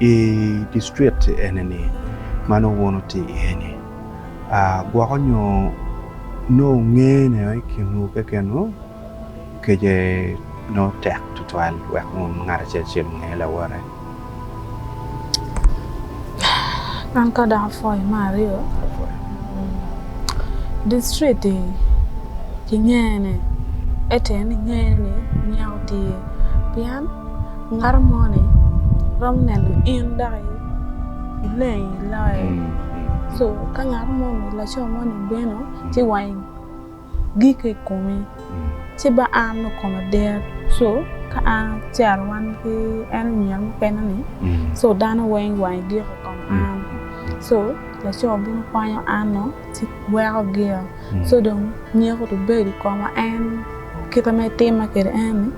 I district enini ma nongo wun wutye iye-ni, gwoko nyo nongo ngene i kinwu kekenwu kece nongo tek tutwal wek wun ngat acel acel onge lawote? An ka dok apwoyo me aryo, district-ti kingene ete ni ngene ni nyeko tye pien Ngato moni romo neno in dok ileng iloye. So ka ngato moni laco moni obino ci wange gik i komi ci ba an dong koma dit so ka an acito wan ki en oniang mukene ni so dano weng wange gik i kom an so laco bino kwanyo an nongo ci weko gik. so dong nyeko dong bedo i koma en kite ma itima kwede en ni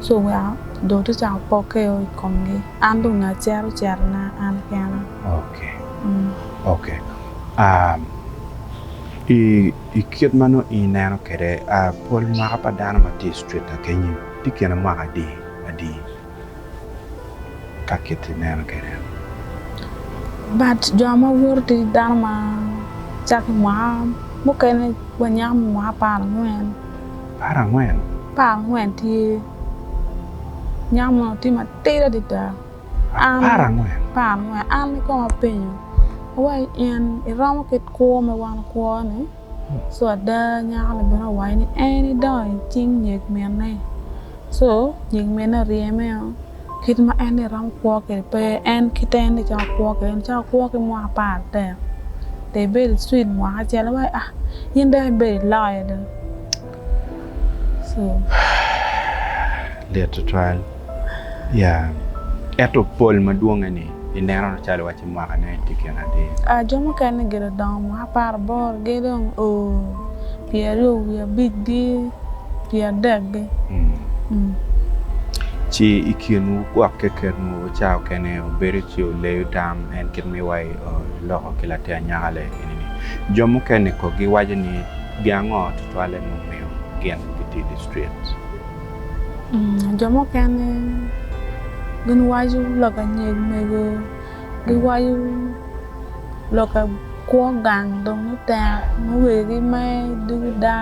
ci oweko dong atye ka cako pokke i komgi an dong ngat cito citona an kena. I kit ma nongo in ineno kwede pol mwaka pa dano ma tye i street kekeni tye kine mwaka adi adi? ka kit ineno kede. But jo ma woto ki dano ma caki mwaka mukene wa nyako me mwaka apar angwen. Apar angwen? Apar angwen tye. Nyako mono tye matidi adada. Apar angwen? Apar angwen. An kong apenyo, awai in iromo kit kwo ma wan wakwo ni? Co ada nyako-ni bene owaco ni en idongo i cing nyig minne. Co nyig minne oryemeo kit ma en ni romo kwo kwede pe en kite en ni cito kwo kwede en cito kwo ki mwaka apar atek dong ibed icwit mwaka acel en waci ah in dong ibedo iloyo dong. Lit tutwal. Yeah. Ento pol madwonge ni ineno calo iwacci mwaka ne tye gin adi? Ah jo mukene gido dongo mwaka apar aboro gi dong o pyeraryo wiye abic gi pyeradek gi. Mm. Ci i kinwu gwok kekenwu ca okene obedo ci oleyo tam en kit ma iwaci oloko ki latin anyaka le ini ni. Jo mukene ko giwaco ni Pi ango tutwalle mumiyo gin gitye distracted? Jo mukene gin waco lok anyeg mego, gi waco lok a kwo gang dong ni tek nongo wegi gi maye dugu da,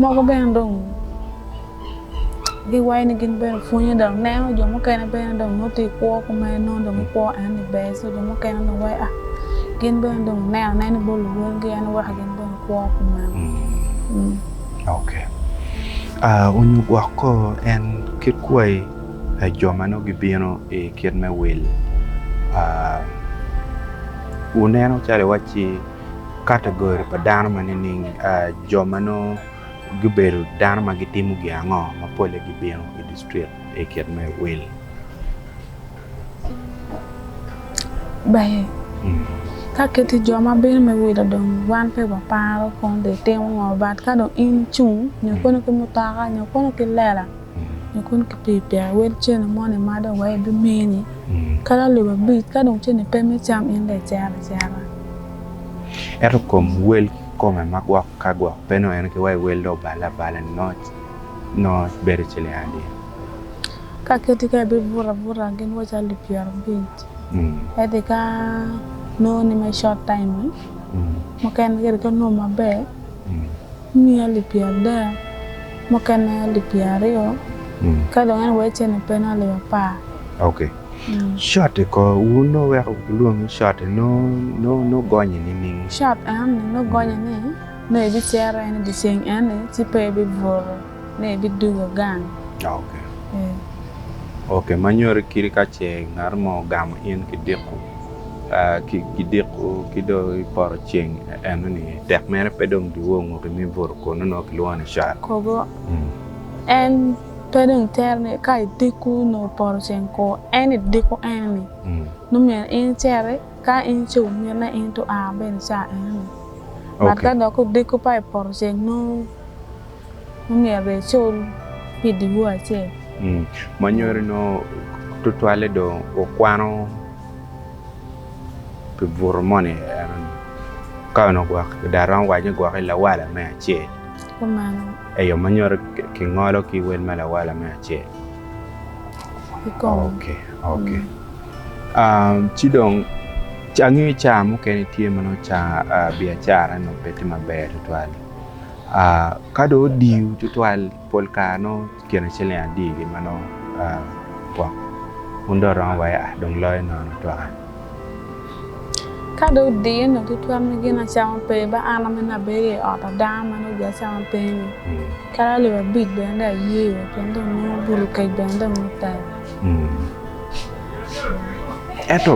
moko bene dong. Giwaco ni gin bene pwonyo dok neno jo mukene bene dong nongo tye kwo kume nongo dong gikwo en ni ber so jo mukene dong waco ah gin bene dong oneno anena bot luwotgi en weko gin bene gikwo kumeno. Mm. Ok. Ah, onyo gwok ko en kit kwayi pa jo ma nongo gibino i kit me wil. Ah, wuneno calo iwacci kategori pa dano ma nining? Ah, jo ma nongo. Gubedo dano ma gitimo gin ango ma polle gibino i distrik i kit me wil? Baye, ka kit-ti jo ma bino me wil odong, wan pe waparo kong dong itimo ngo, but ka dong in icung nyo kono ki mutoka nyo kono ki lela nyo kono ki pikipiki wel cene moni ma dong waye bimini kadi alip abic ka dong cene pe me cam in dong icito acita. Ento kom wel. kome ma gwok ka gwok pe nongo en ki wa iwel dong obale abala ni noc noc bedo ci ling adya. Ka keti ka ibibuto abuta gin wa cali pyera abic eti ka nongo ni me short time ni mukene kadi ka nongo maber imiyo alip pyera adek mukene alip pyera aryo ka dong en wee cene pe nongo alip apar. Cotti ko, wun nongo weko gulwongi cotti nongo gonye nining? Cott en ni nongo gonye ni nongo ebicero en idyeceng en ni ci pe ebibuto ni ebidugo gang. Ok. Ok, ma nyoti kiti ka ce ngat mo ogamo in ki diko, ki diko ki do ipoto ceng eno ni tek mere pe dong dwongo ki me buto kunu nongo kilwongo ni cott. Kobo en. Pe dong iter ni ka idiko nongo poto ceng kor en idiko ene-ni nongo myero in icere ka in ce ominne in to a bene ca ene-ni. But ka dok odiko pa i poto ceng nongo nongo myero dong icul pi diwu acel. Ma nyuto ni nongo tutwalle dong wukwano pi buto moni eno-ni. Ka onongo gwok, dong aromo waco ni gwokke lawala me acel. Kumalo. Eyo, ma nyuto ki ngolo ki wel ma lawala me acel. I kom. Oke, oke. Um, ci dong, ca- angeyo ca mukene tye ma nongo ca ah, biacara nongo pe tye maber tutwal. Ah, ka dong odiyo tutwal, pol kare nongo kine ciling adi gi ma nongo gwok wun dong romo wa ea dong loyo nono twaka. Ka dong odiye nongo kitwero ni gin acama pe ba an ame ni abedo i ot adanga ma nongo jo acama pe ni kadi alip abic bene dong aye iye pien dong nongo bulu kec bene dong nongo tek. Ento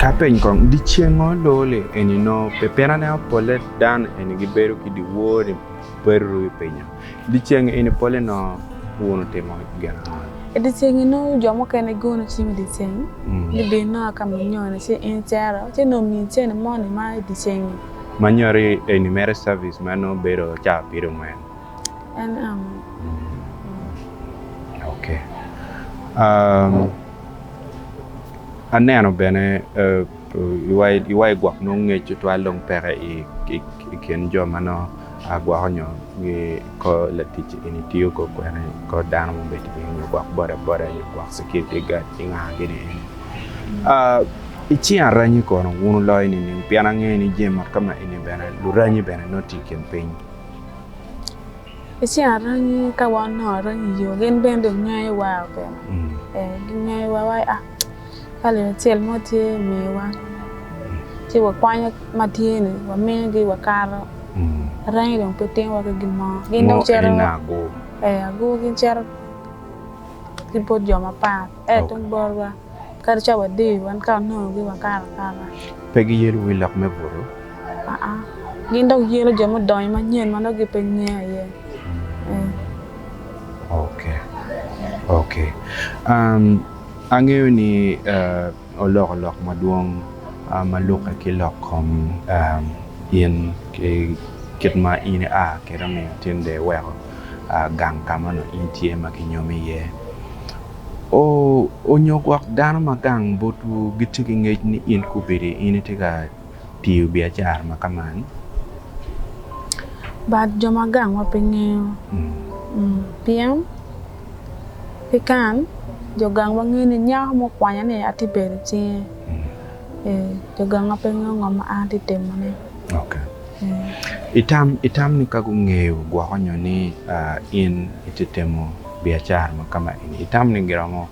ka apeny kong dyecengo loo li eni nongo pi pinane apolle dano eni gibedo ki dyewor ni pe ruru i pinyo? I dyeceng eni polle nongo wun wutimo gin ango? I dyeceng eni nongo jo mukene giono cim i dyeceng, gibino a ka manyoni ci in icero, ci nongo omiyi cene moni ma i dyeceng-nyi. Manyoni eni mere cabic ma nongo bedo caa abiro mwen. En ango? Ok. Aneno bene iwa i gwok nongo ngec tutwal dong peke i kin jo ma nongo. Agwoko nyo gi kor latic eni tiyo kor kwene kor dano mo bedi piny nyo gwok boda boda nyo gwok security guard ki nga gini eni i cing aranyi kono wun wuloyo nining pien angeyo ni jami mot ka ma eni bene luranyi bene nongo tye i kin piny. I cing aranyi ka wa onongo aranyi yoo gin bene dong ngeyo wa bene ee gingeyo wa wa Ka lelo acel mo tye i miwa ci wakwanyo ma tye-ni wamiyogi wakato, rangi dong pe timowa ki gin mo. Gin dong cito ee agur gin cito ki bot jo mapat ento tung botwa kadi ca wadiyo wan ka wanongogi wakato akata. Pe giyelo wi lok me buto? Aa gin dong yelo jo mudonyo manyen ma nongo gipe ngeyo aye ee. Oke oke Angeyo ni oloko lok madwong ma lukke ki lok kom in ki kit ma in ia kwede omiyo tinde iweko gang ka ma onongo in tye ma kinyomi iye. Onyo gwok dano ma gang botwu gitye ki ngec ni in kubedi in itye ka tiyo biacara ma kaman. Bad jo ma gangwa pe ngeyo. Pien ki kan jo gangwa ngeyo ni nyako mo okwanya ni atye bedo i cinge. Jo gangwa pe ngeyo ngo ma an atye timone. Itam ni ka gungeyo gwoko nyo ni in itye timo biacara ma kama eni, itam ni giromo.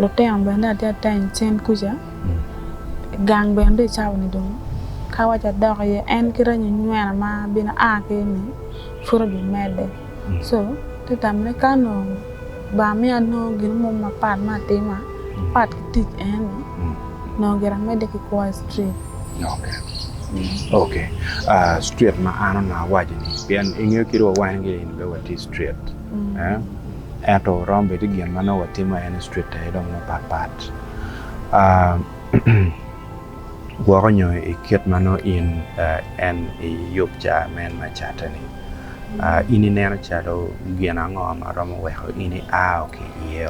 Lutino bene atye atany cen kuca, gang bene tye icawa ni dong ka awaco adok iye en ki reny onywena ma bino a ki ni pud obimedde co atye tamone ka onongo ba miyo anongo gin mo mapat ma atima pat ki tic eni onongo gira amedde ki kwo i cukul. Okee cukul ma an onongo awaco-ni pien ingeyo kit wa wan-gi ni pe watye cukul. Ento romo bedo gin ma nongo watimo en i street aye dong mapat pat gwoko nyo i kit ma nongo in en iyub ca men me catte ni in ineno calo gin ango ma romo weko in iao ki iye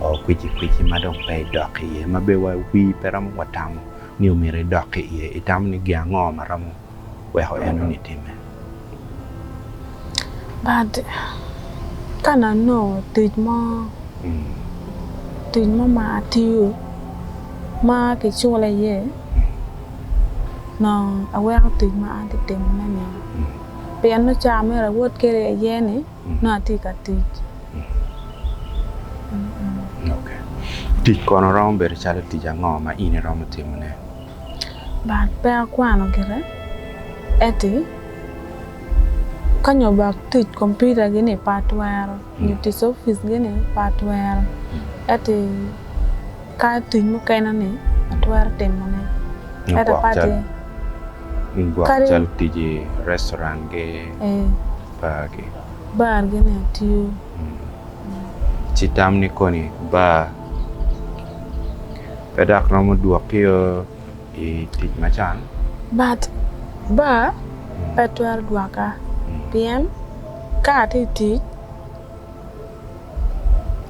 oo kwici kwici ma dong pe idok ki iye ma bene wa wi pe romo wa tamo ni omyero idok ki iye itamo ni gin ango ma romo weko en winy timme. But ka na nongo tic mo tic mo ma atiyo ma kicula iye nongo aweko tic ma an tye ka timo ne ni pien nongo caa mere awot kwede aye ni nongo atye ka tic. Tic kono romo bedo calo tic ango ma in iromo timone? but pe akwano gire eti kanyo bak tic computer gi ni pe atwero nyo tic office gi ni pe atwero eti ka tic mukene ni atwero timo ne ento ka ti Kadi calo tic i restaurant gi bar gi bar gi ni atiyo. Ci tam ni koni bar. Pe dok romo dwokkio i tic ma can. But bar pe twero dwoka pien ka atye i tic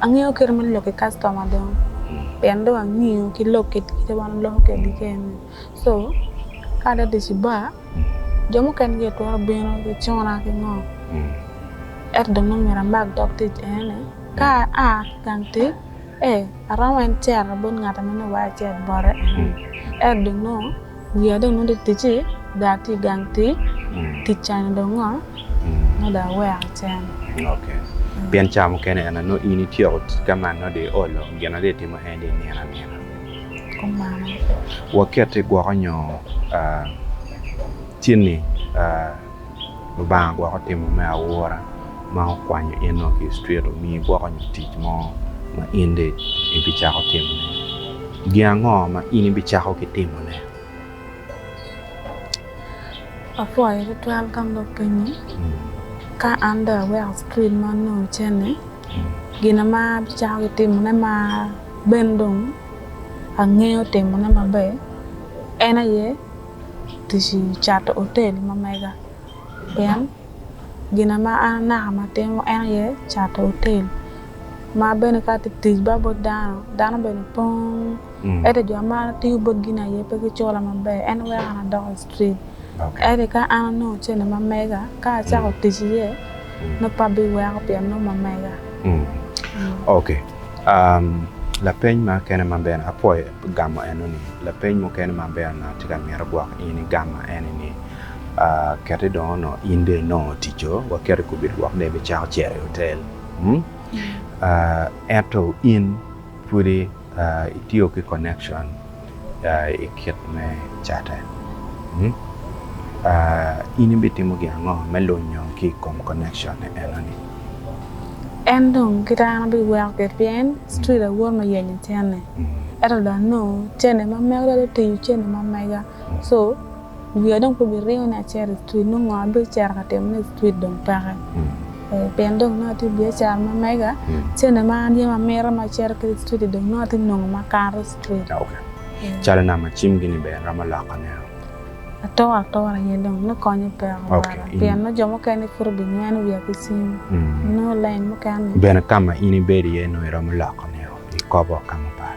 angeyo kite ma lok ki kactoma dong pien dong angeyo ki lok kit ma wan waloko kwedgi kene so ka ate tic i bar Jo mukene gitwero bino gicuna ki ngo, ento dong ma myero amak dog tic aye ni ka aa ki i gang tic ee aromo wai ni cito bot ngat ma nongo wai acit bote ene ni ento dong nongo wiya dong nongo tye ticci dong atye i gang tic, tic ca ni dong ngo ma dong aweko cen. Pien ca mukene en aye nongo in ityeko ka ma nongo dong iolo gin ma dong itimo en dong inino anina. Waketi gwoko nyo cen-ni Lubanga gwoko timo me aura ma okwanyo in-o ki i cit omiyi gwoko nyo tic mo ma in dong ibicako timone. Gin ango ma in ibicako ki timone? Apwoyo tutwal ka an dong apenyi, ka an dong aweko cukul ma onongo cen-ni, gin ma abicako ki timone ma Ben dong angeyo timone maber en aye tic i cato otel ma mega pien gina ma an anaka ma atimo en aye cato otel ma bene ka atye ka tic ba bot dano, dano bene pong ento jo ma atiyo botgi-ni aye pe gicola maber en weko an adoko. Ri. Ento ka an anongo cene ma mega, ka acako tic iye, nongo pe abiweko pien nongo ma mega. Ok. Lapeny mukene ma bene apwoyo gamo enoni, lapeny mukene ma bene an atye ka mito gwoko in igam ene ni, kete dong onongo in dong inongo otico, waket i kubit woko dong ibicako cito i hotel, ento in pwodi Itiyo ki connection i kit me catte. In ibitimo gin ango me lunyo ki i kom connection enoni? En dong ki dano biweko ki ryeny, street awor me yenyo cene. Ento dong anongo cene ma mega dong tiyo cene ma mega. So. Wiya dong pe biriyo ni acito i street nongo ngo abicito ka timone i street dong peke. Pien dong nongo atye i biacara ma mega, cente ma an yam amito ma acito kwede i street-ti dong nongo atye nongo ma akato i street. Calo nam ma cimgi-ni bene iromo loko ne? Atoro atora aye dong me konye peko bala pien nongo jo mukene pud obinyweno wiya ki cim nongo lain mukene. Bene ka ma in ibedo iye nongo iromo loko ne-o ikobo ka mapat?